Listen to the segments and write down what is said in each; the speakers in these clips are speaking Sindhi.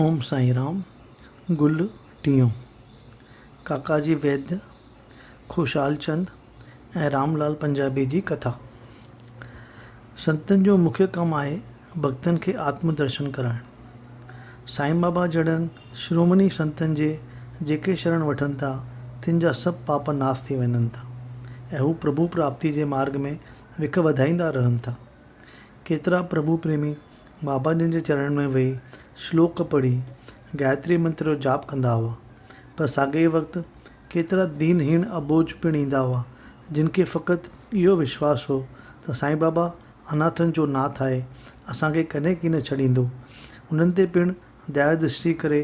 اوم سائين رام گل ٽيون، ڪاڪا جي ويد، خوشحال چند ۽ رام لال پنجابي جي ڪٿا. سنتن جو مکيه ڪم آهي ڀڳتن کي آتم درشن ڪرائڻ. سائين بابا جهڙن شرومني سنتن جي جيڪي شرڻ وٺن ٿا تن جا سڀ پاپ ناس ٿي وڃن ٿا ۽ هو پرڀو پراپتي جي مارگ ۾ وک وڌائيندا رهن ٿا. ڪيترا پرڀو پريمي بابا جن جي چرڻن ۾ ويهي شلوڪ پڙهي گائتري منتر جو جاپ ڪندا هئا. پر ساڳئي ئي وقت ڪيترا دين هيڻ اٻوجهه پڻ ايندا هئا، جن کي فقط اهو وشواس هو ته سائين بابا اناٿن جو ناٿ آهي، اسان کي ڪڏهن ڪين ڇڏيندو. انهن تي پڻ ديا درشٽي ڪري،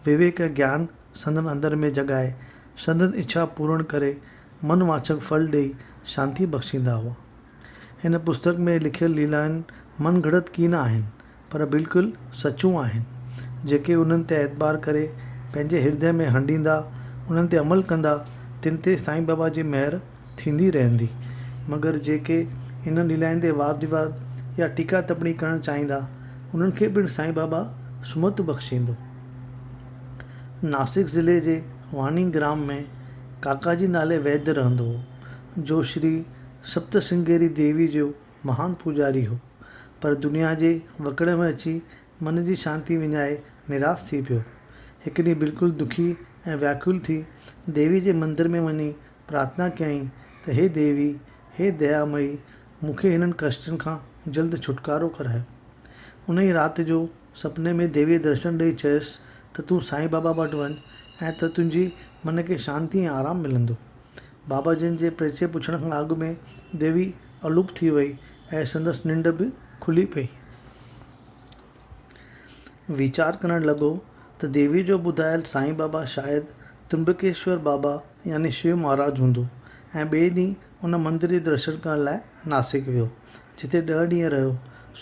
وويڪ ۽ گيان سندن اندر ۾ جڳائي، سندن اڇا پورڻ ڪري، من وانڇڪ ڦل ڏيئي شانتي بخشيندا هئا. هن پستڪ ۾ لکيل ليلائن من گهڙت ڪي نه آهن، پر بلڪل سچون آهن. جيڪي انهن تي اعتبار ڪري پنهنجي هردي ۾ هنڊيندا، انهن تي عمل ڪندا، تن تي سائين بابا جي مهر ٿيندي رهندي. مگر جيڪي انهن ليلائن تي واد ويواد يا ٽيڪا تپڻي ڪرڻ چاهيندا، انهن کي پڻ سائين بابا سمت بخشيندو. ناسڪ ضلعي جي واڻي گرام ۾ ڪاڪاجي نالي ويد رهندو هو، جو شري سپتسنگيري ديوي جو مهان پوڄاري هو، پر دنيا جي وڪڙي ۾ اچي من جي شانتي وڃائي نراس ٿي پيو. هڪ ڏينهن بلڪل دکي ۽ وياڪل ٿي ديوي جي مندر ۾ وڃي پرارٿنا ڪيائين ته هي ديوي، هي ديا مئي، مون کي هنن ڪشٽن کان جلد ڇوٽڪارو ڪرايو. انهيء رات جو سپني ۾ ديويء درشن ڏئي چيس ته تون سائين بابا وٽ وڃ ۽ ته تنهنجي من کي شانتي ۽ آرام ملندو. بابا جن جي پرچي پڇڻ کان اڳ ۾ ديوي الوپ ٿي وئي ۽ سندس ننڊ به کلي پئي. ويچار ڪرڻ لڳو ته ديوي جو ٻڌايل سائين بابا شايد ترمبڪيشور بابا يعني شو مهاراج هوندو ۽ ٻئي ڏينهن ان مندر جي درشن ڪرڻ لاء ناسڪ ويو، جتي ڏهه ڏينهن رهيو.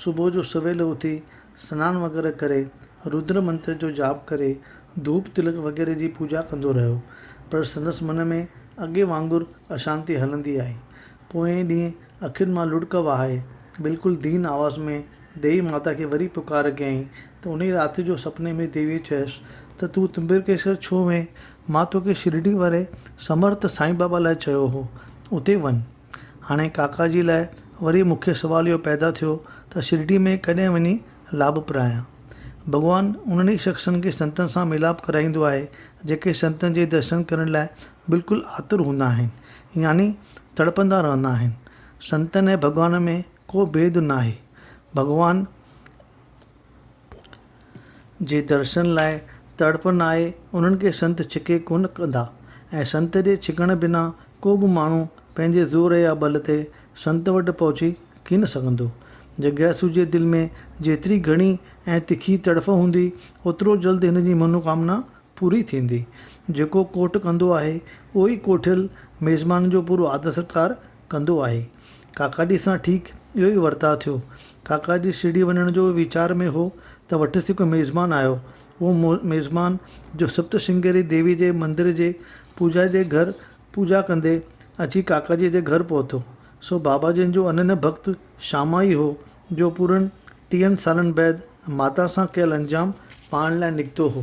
صبح جو سويل اٿي سنان وغيره ڪري، رودر منتر جو جاپ ڪري، ڌوپ تلڪ وغيره جي پوڄا ڪندو رهيو، پر سندس من ۾ اڳي وانگر اشانتي هلندي آئي. پوئين ڏينهن اکين مان لڙڪ وهائي، بلڪل دين آواز ۾ ديوي ماتا کي وري پڪار ڪيائين ته انهيء رات جو سپني ۾ ديويء چيس ته تون تمبرڪيشور ڇو وئين؟ مان توکي شرڊي واري سمرٿ سائين بابا لاء چيو هو، اتي وڃ. هاڻي ڪاڪا جي لاء وري مون کي سوال اهو پيدا ٿيو ته شرڊي ۾ ڪڏهن وڃي لاڀ پرايان؟ ڀڳوان انهن ئي شخصن کي سنتن سان ميلاپ ڪرائيندو آهي جيڪي سنتن جي درشن ڪرڻ لاء بلڪل آتر هوندا آهن يعني تڙپندا رهندا آهن. سنتن ۽ ڀڳوان ۾ ڪو ڀيد ناهي. ڀڳوان. جي درشن لاء تڙپ ناهي انهن کي سنت ڇڪي ڪونه ڪندا ۽ سنت جي ڇڪڻ بنا ڪو به ماڻهو پنهنجي زور يا ٻل تي سنت وٽ پهچي ڪين سگهندو. جڳياسو جي دل ۾ جيتري گهڻي ۽ تکي تڙڦ هوندي اوترو جلد هن جي منوڪامنا پوري ٿيندي. جيڪو ڪوٺ ڪندو آهي اهو ئي ڪوٺيل ميزبان جو پورو آدر ستڪار ڪندو آهي. ڪاڪا جي سان ٺيڪ اهو ئي ورتاء ٿيو. ڪاڪا جي شرڊي وڃڻ جو ويچار ۾ هو ته وٽس هڪ ميزبان آيو. اهو ميزبان جو سپت شنگيري ديوي جي مندر جي پوجاري جي گهر پوجا ڪندي اچي ڪاڪا جي جي گهر پهتو سو بابا جن جو اننهن ڀڳت شاما ئي هو جو پورن ٽيهن سالن بعد ماتا سان ڪيل انجام پائڻ لاء نڪتو هو.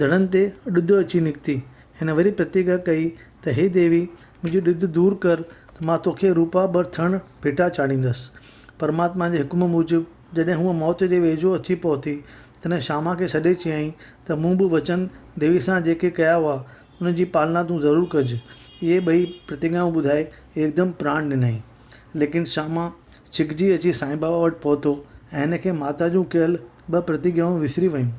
ڌڙن تي ڏڌ اچي نڪتي. هن وري پرتيگها ڪئي ته هي ديوي! منهنجي ڏڌ دور ڪر ته مان توکي روپا ٻه ٿڻ ڀيٽا چاڙهيندس. پرماتما جي حڪم موجب جڏهن هوء موت جي ويجهو اچي پهتي، تڏهن شاما کي سڏي چيائين ته مون به وچن ديوي سان جيڪي ڪيا هئا، ان جي پالنا تون ضرور ڪج. اهي ٻئي پرتيگهائون ٻڌائي هڪدم پراڻ ڏنائين. ليڪن شاما ڇڪجي اچي سائين بابا وٽ پهتو ۽ هن کي ماتا جون ڪيل ٻه پرتگيائون وسري ويون.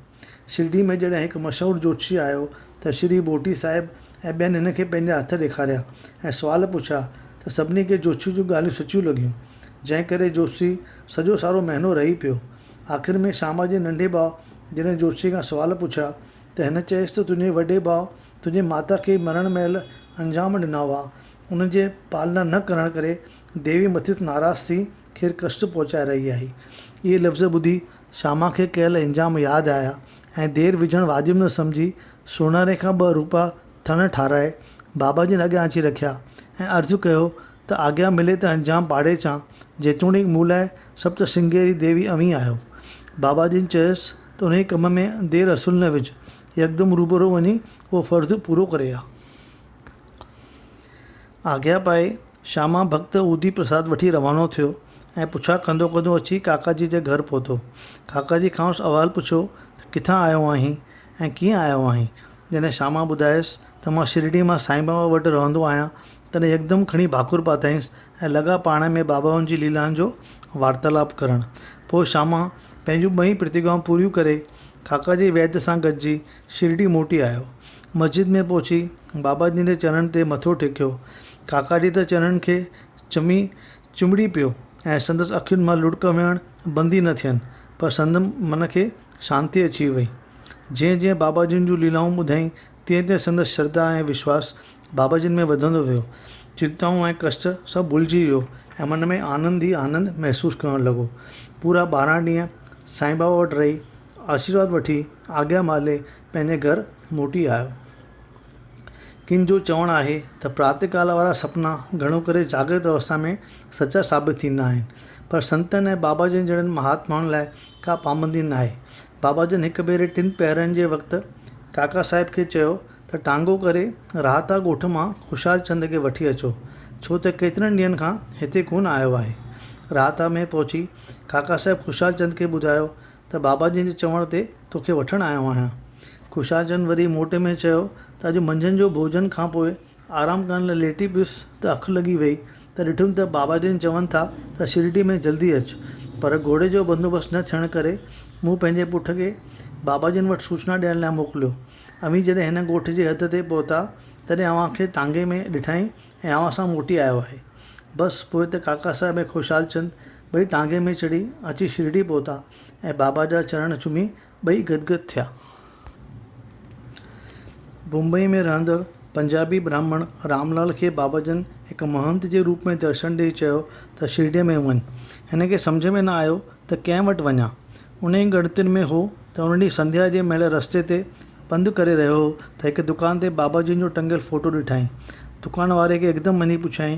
شرڊي ۾ جڏهن هڪ مشهور جوتشي آيو ته شري ڀوٽي صاحب ۽ ٻين هن کي پنهنجا هٿ ڏيکاريا ۽ سوال پڇيا ته سڀني کي جوتشي جون ڳالهيون سچيون لڳيون، جنهن ڪري جوتشي سڄو سارو مهينو رهي پيو. آخر ۾ شام جي ننڍي ڀاء جڏهن جوتشي کان سوال پڇيا ته هن چيس ته تنهنجي وڏي ڀاء تنهنجي ماتا کي مرڻ مهل انجام ڏنا هئا، ان جي پالنا نه ڪرڻ ڪري ديوي مٿس ناراض ٿي کير ڪشٽ پهچائي رهي آهي. اهي لفظ ٻڌي شاما کي ڪيل انجام ياد آيا ۽ دير وجهڻ واجب نه سمجهي سوناري کان ٻه روپا ٿڻ ٺارائي بابا جن اڳيان اچي رکيا ۽ عرض ڪيو ته آگيا ملي ته انجام پاڙي اچان جيتوڻيڪ مون لاء سپتشرنگيري ديوي اوهين آهيو. بابا جن چيس ته انهيء ڪم ۾ دير اصل نه وجهه يڪدم روبرو وڃي اهو فرض پورو ڪري آ. آگيا پائي شاما ڀڳت اودي پرساد وٺي روانو ٿيو ۽ پڇا ڪندو ڪندو اچي ڪاڪاجي جي گهر پهتو. ڪاڪاجي کانئس احوال پڇيو ته ڪٿان آيو آهين ۽ ڪيئن آيو آهين؟ جڏهن شاما ٻڌايس ته مان شرڙي مان سائين بابا وٽ رهندو آهيان، تڏهن يڪدم کڻي ڀاڪر پاتائينس ۽ لڳا پاڻ ۾ بابائن جي ليلائن جو وارتالاپ ڪرڻ. پوء شاما پنهنجون ٻئي پرتيگائون پوريون ڪري ڪاڪاجي ويد سان گڏجي شرڊي موٽي آيو. مسجد ۾ پهچي بابا جن جي چرڻن تي مٿو ٽيڪيو. ڪاڪاجي ته چرڻن کي چمي چنبڙي پيو ۽ سندس اکين مان لڙڪ وهڻ بند ئي نه ٿين پر سندس من کي شانتي اچي وئي. جئين جئين بابا جن جون ليلائون ٻڌائين تئين تئين سندس شرڌا ۽ وشواس بابا جن ۾ وڌندو ويو. چنتائون ۽ ڪشٽ سڀ ڀلجي ويو ۽ من ۾ آنند ئي آنند محسوس ڪرڻ لڳو. پورا ٻارهن ڏينهن سائين بابا وٽ رهي. آشيرواد وٺي آگيا مالهي پنهنجي گهر موٽي آيو. ڪن جو چوڻ آهي ته پرات ڪال وارا سپنا گهڻو ڪري جاگرت اوستا ۾ سچا ثابت ٿيندا آهن. پر سنتن ۽ بابا جن جهڙن مهاتمائن لاء ڪا پابندي ناهي. بابا جن هڪ ڀيري ٽن پهرن جي وقت ڪاڪا صاحب کي چيو ته ٽانگو ڪري راهتا ڳوٺ مان خوشحال چند کي وٺي اچو، ڇو ته ڪيترن ڏينهن کان هتي ڪونه آيو آهي. راهتا ۾ پهچي ڪاڪا صاحب خوشحال چند کي ٻڌايو ته بابا جن جي چوڻ تي توکي وٺڻ آيو آهيان. خوشحال چند وري موٽي ۾ چيو ته اڄ منجهند جو ڀوڄن کان پوء آرام ڪرڻ لاء ليٽي پيس ته اک لڳي ويئي ته ڏٺم ته بابا جن چون ٿا ته شرڊي ۾ جلدي اچ پر گهوڙي جو بندوبست نه ٿيڻ ڪري مون پنهنجي پٺ کي بابا جن وٽ سوچنا ڏيڻ لاء موڪليو. اوهين جڏهن هن ڳوٺ جي حد تي پهتا تڏهن اوهان کي ٽانگي ۾ ڏٺائين ۽ اوهان سان موٽي آيو آهي. بس پوء ته ڪاڪا صاحب ۽ خوشحال چند ٻئي ٽانگي ۾ چڙهي اچي شرڊي پهتا ۽ بابا جا چرڻ چمي ٻئي گدگد ٿيا. بمبئي ۾ رهندڙ پنجابي براهمڻ راملال کي بابا جن هڪ مهنت جي روپ ۾ درشن ڏيئي چيو ته شرڊيء ۾ وڃ. هن کي سمجهه ۾ نه آيو ته ڪنهن وٽ وڃان. انهيء ڳڻتين ۾ هو ته ان ڏينهن سنڌيا جي مهل رستي تي پنڌ ڪري رهيو هو ته هڪ دڪان تي بابا جن جو ٽنگيل فوٽو ڏٺائين. دڪان واري کي هڪدم وڃي پڇيائين